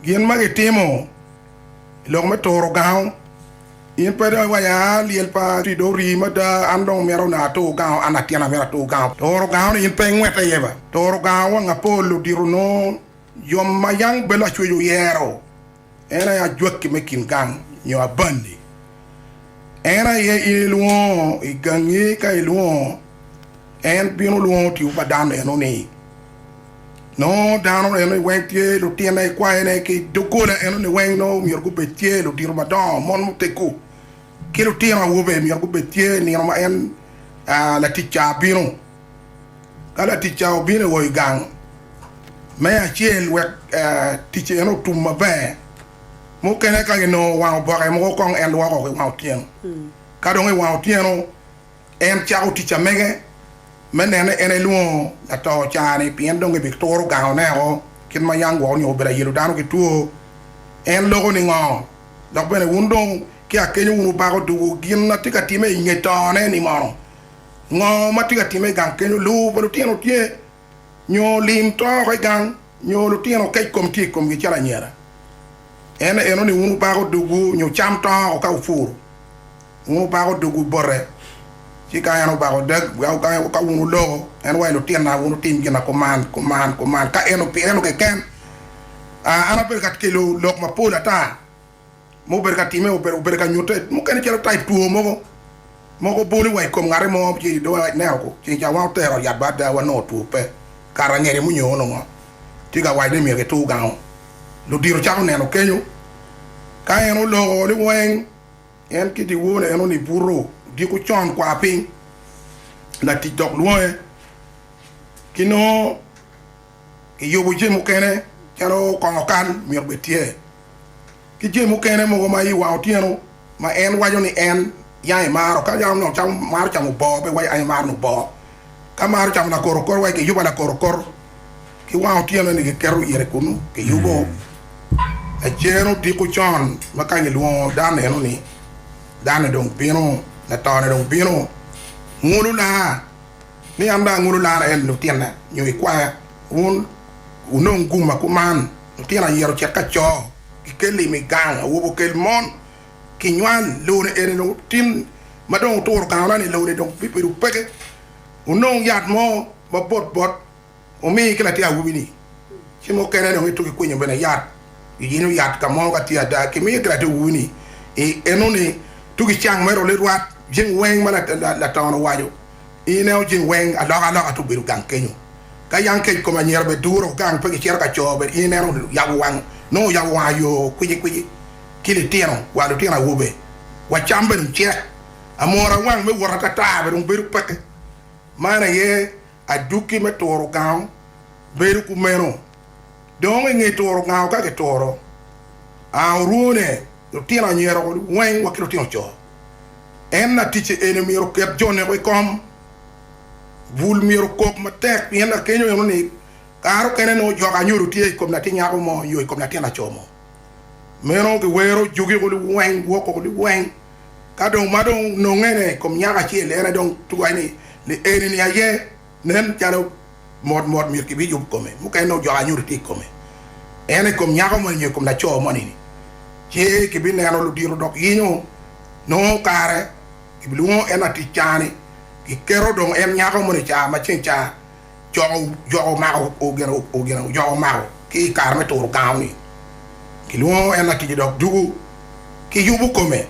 Gin ma gitimo i lok me turo gango. In pe dong iwaco, aa, lyel pa tii dong rii mada, an dong myero onongo atur gango, an atyena myero atur gango. Turo gangoni in pe ingwete iye ba. Turo gango wang apol odito nongo jo ma yam bene lacwec oyero, en aye ajwaki me kin gang nyo abandi. En aye in ilwongo i gangi ka ilwongo, en bino lwongo tipo pa dano eno ni. Nongo dano eno niweng tye lutine i kwayone ki i doggola eno niweng nongo myero gubed tye lutino madongo, mon muteggu, ki lutino awobe myero gubed tye nino ma en laticca abino. Ka laticca obino i oi gang, me acel wek ticce eno otum maber, mukene ka ginongo wang oboke mogo kong en lwoko ki wang otyeno, ka dong i wang otyeno En cako tic amege me nene en elwongo lato ocaa-ni pien dong ebituro gangone o kit ma yam gwok onyo obedo ayelo dano ki two. En loko ningo? Dok bene wun dong ki akenyo wun wubako dugu gin a tye ka time inge tone-ni mono? Ngo ma tye ka time igang kenyo luwu pa lutino tye? nyo lim to oko i gang, nyo lutino kec kom tye i komgi calo anyira, en enoni wun wubako dogwu nyo cam to oko ka wupuro, wun wubako dogwu bote, ci ka en obako dag, ka wun wuloko, en wa i lutinna, wun wutim gina kuman, kuman, kuman, ka en pi en keken, a, an abedo ka kelo lok mapol ata. ma obedo ka timme, obedo ka nyutte mukene calo taip two mogo ma guboli wa i kom ngati mo ci dong waneno ku ceng ca wan otere yat bad ada wanongo two pe kare angeli mo nyo onongo tye ka waco ni myero kitur gango. Ludito cako neno kenyo ka en oloko ni weng en ki dyewor-re en onongo ibuto odiko con kwar piny latic dok lwonge ki nongo I yubu jami mukene calo kongo kal myero bed tye ki jami mukene mogo ma i wang otyeno ma en waco ni en yang imaro ka yang onongo camo maro camo boo pe waco aye maro nongo boo ka maro camo lakoro kor waco ki yuba lakoro kor ki wang otyeno eni ki keto ite kunu ki yubo lacer odiko con ma kany ilwongo dan eno ni dan ni dong bino latone dong bino ngulu na. ni an dong angolo lara en lutinna nyo i kwaya wun wunong gumma kuman lutino ayira ocit ka co ki kel imi gang awobe okel mon ki nywal lone eni dong otin ma dong oturo gangona ni lone dong bibedo peke wunong yat mo ma bot bot omiyi ki latin awobi-ni ci mukene dong ituki kwinyo bene yat, iyinyo yat ka mo ka tye ada, kimiyo ki latin awobi-ni i enoni tuki cang mere ole rwat. Jing weng ma laton owaco i ineo jing weng aloka aloka te obedo gang kenyo. Ka yang kec kome anyira bed duro gang pe gicito ka co bed in en oyabo wang nongo oyabo wang ayo kwici kwici ki litino wa lutino awobe wa cam bene ocek amora wang me wot atata bene dong bedo peke man aye Adwoki me turo gango bedo kumeno. Dong i nge turo gango ka kituro ango orwone, lutino anyira weng wa ki lutino co. En laticce eni myero oket jo neko i kom. Bul myero okok matek pien lakenyoni kare okene nongo jok anyodo tye i kom latin nyako mo nyo i kom latin laco mo. Meno giwero jogi ko liweng woko ko liweng ka dong ma dong ononge ne kom nyako acel ene dong twai ni ni eni ni aye nen calo mot mot myero ki biyub kome mukene nongo jok anyutu tye ikome ene ikom nyako moni nyo ikom laco moni ni ce ki bineno ludito dok yinyo nongo kare ki bilwongo en latic cani ki keto dong en nyako moni ca macen ca joko omako ki i kare me turo gango-ni kilwongo en latic dok juko ki yubo kome.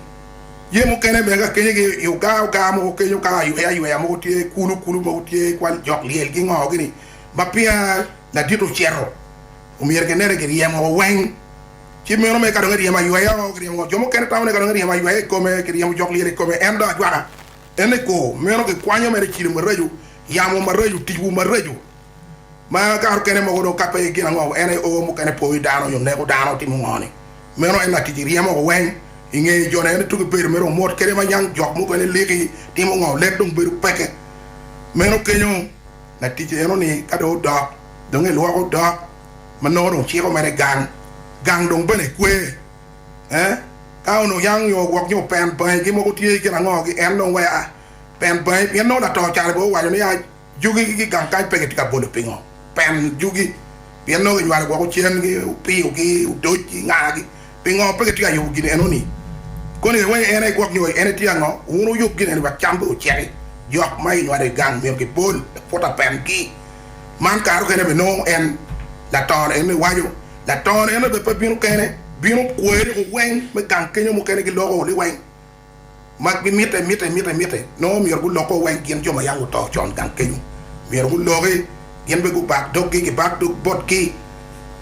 Jami mukene mege akenyagi i i ogaa ogaa mogo kenyo ka ayweayweya mogo tye, kulu kulu mogo tye, kwal jok lyel gingoogi ni ma pia ladit ocito omyero kinene kiryemo woko weng ci meno mere ka dong eryemo ayweya o kiryemo ngo. Jo mukene tamo ni ka dong eryemo ayweya i kome kiryemo jok lyel i kome en dong ajwaka en ni kor meno kikwanyo mere cilo maraco. Yamo maraco, ticwu maraco ma kato kene mogo dong kape i gin ango, en aye oo mukene poyo dano nyo neko dano, timo ngo ni? Meno en latic iryemo ko weng i nge jo ne, en aye tuge bedo mere omot kede manyang jok mukene liki, timo ngo? Lek dong bedo peke meno kenyo, latic eno ni ka dong odok dong elwoko odok ma nongo dong ciko mere gang, gang dong bene ekwe eh ka onongo yang nyo ogwok nyo open bangi gi mogo tye gin ango gi en dong wea. Pen bangi pien nongo latongo caro bene owaco ni, 'A jugi ki gigang kany pe gitye ka bolo pingo? Pen jugi pien nongo ginywalo woko cen-gi, opiyogi, odocgi, ngagi. Pingo pe gitye ka yubo gin enoni? Koni aye wek en aye gwok nyo en aye tye ango? Wun wuyub gin eni wek cam pe oceki. Jok ma ginywalo i gang myero gibol laputa pengi. Man kare okene bene nongo en, latongo-ni, enoni waco, Latongo-ni enoni bene pe bino kene, bino kwoyo liweng me gang kenyo mukene giloko liweng. ma gimitte mitte mitte mitte, nongo myero gulok-ko wa i gin jo ma yam guto con gang kenyo. Myero guloki, gin bene gubak doggi, gibak dog botgi,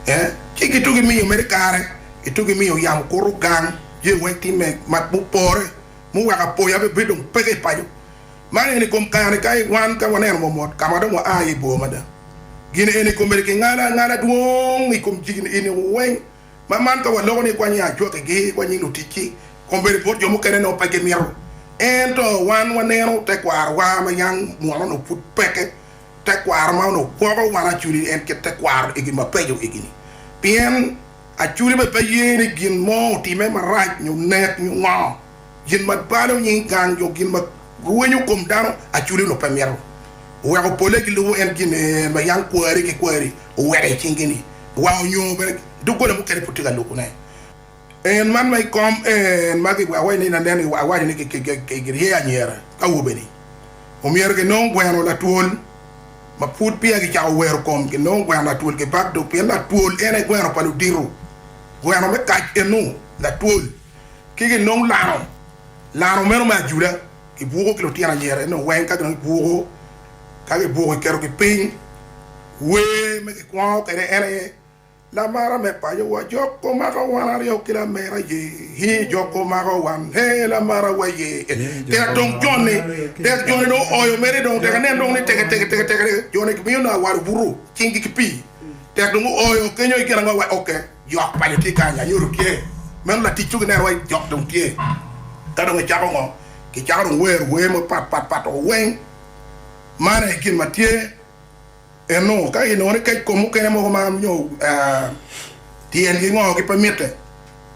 ee, ci gitug i miyo mere kare, gitug i miyo yamo kuto gang, je wa i tim me mak mupore, muweko apoya bene bedo dong peke i paco. Man eni i kom kare-ni ka wan ka waneno momot ka ma dong waa iye bor mada. Gin eni komedi kingalo angala dwong i kom jigi-ni eni weng. Ma man ka waloko ni kwanyi ajwakigi, kwanyi luticci, kong bed bot jo mukene nongo pe gimito. Ento wan waneno tekwarowa ma yam mwono-nu pud peke, tekwaro ma onongo gwoko wan aculi en kit tekwaro igi mabeco egi-ni. Pien aculi bene pe ye ni gin mo otime marac nyo nek nyo ngo. Gin ma balo nying gang nyo gin ma rwenyo kom dano aculi onongo pe mito weko polle gilubo en gin ma yam kwari ki kwari oweko i cingi-ni wa onyo bene doggola mukene pud tye ka lubone. En man ma i kom en ma giwaco ni lanen giwaco ni girye anyira ka awobe-ni omyero ginong gweno latwol ma pud peya gicako wero kom ginong gweno latwol gibak dog pien latwol en aye gweno pa ludito, gweno me kac eno latwol. Ki gin nongo lano lano meno me ajula ki buko ki lutino anyira eno weng ka ginongo gibuko ka gibuko giketo gi piny wer me gikwongo kwede en aye lamara me paco wa jok omaka wan aryo ki lamera ye hi jok omaka wan he lamara wa ye tek dong joni tek joni dong oyo mere dong tek nen dong ni teke teke teke teke joni gimiyo nanga wal obuto cing gi ki pii tek dong oyo kenyo igin ango wa oke Jok paco tye kany, anyuto tye. Meno latic dong ineno wai jok dong tye. Ka dong icako ngo? Kicako dong wero wer mogo pat pat pat o weng. Man aye gin ma tye. Eno ka inongo ni kec kom mukene mogo ma nyo tyengi ngo ki pe mitte.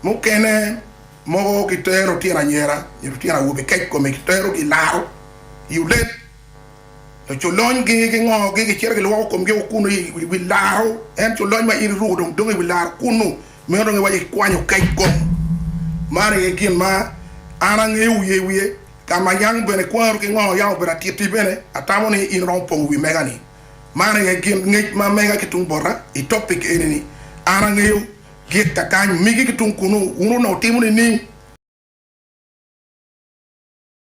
Mukene mogo kitero tyen anyera nyo lutyen awobe kec kome kiterogi ilaro i olet. Culony gingogi, gicito gilwoko komgi woko kunnu i wi laro. En culony ma in iruko dong dongo i wi laro kunnu, meno dong iwaco ikwanyo kec gong. Man aye gin ma an angeyo wiye wiye, ka ma yang bene kwano ki ngo yang obedo atiti bene, atamo ni in iromo pongo wi mega-ni. Man aye gin ngec ma amega ki tung bota i topic eni-ni. An angeyo gik ka kany, migi ki tung kunnu, wun onongo wutimo nining?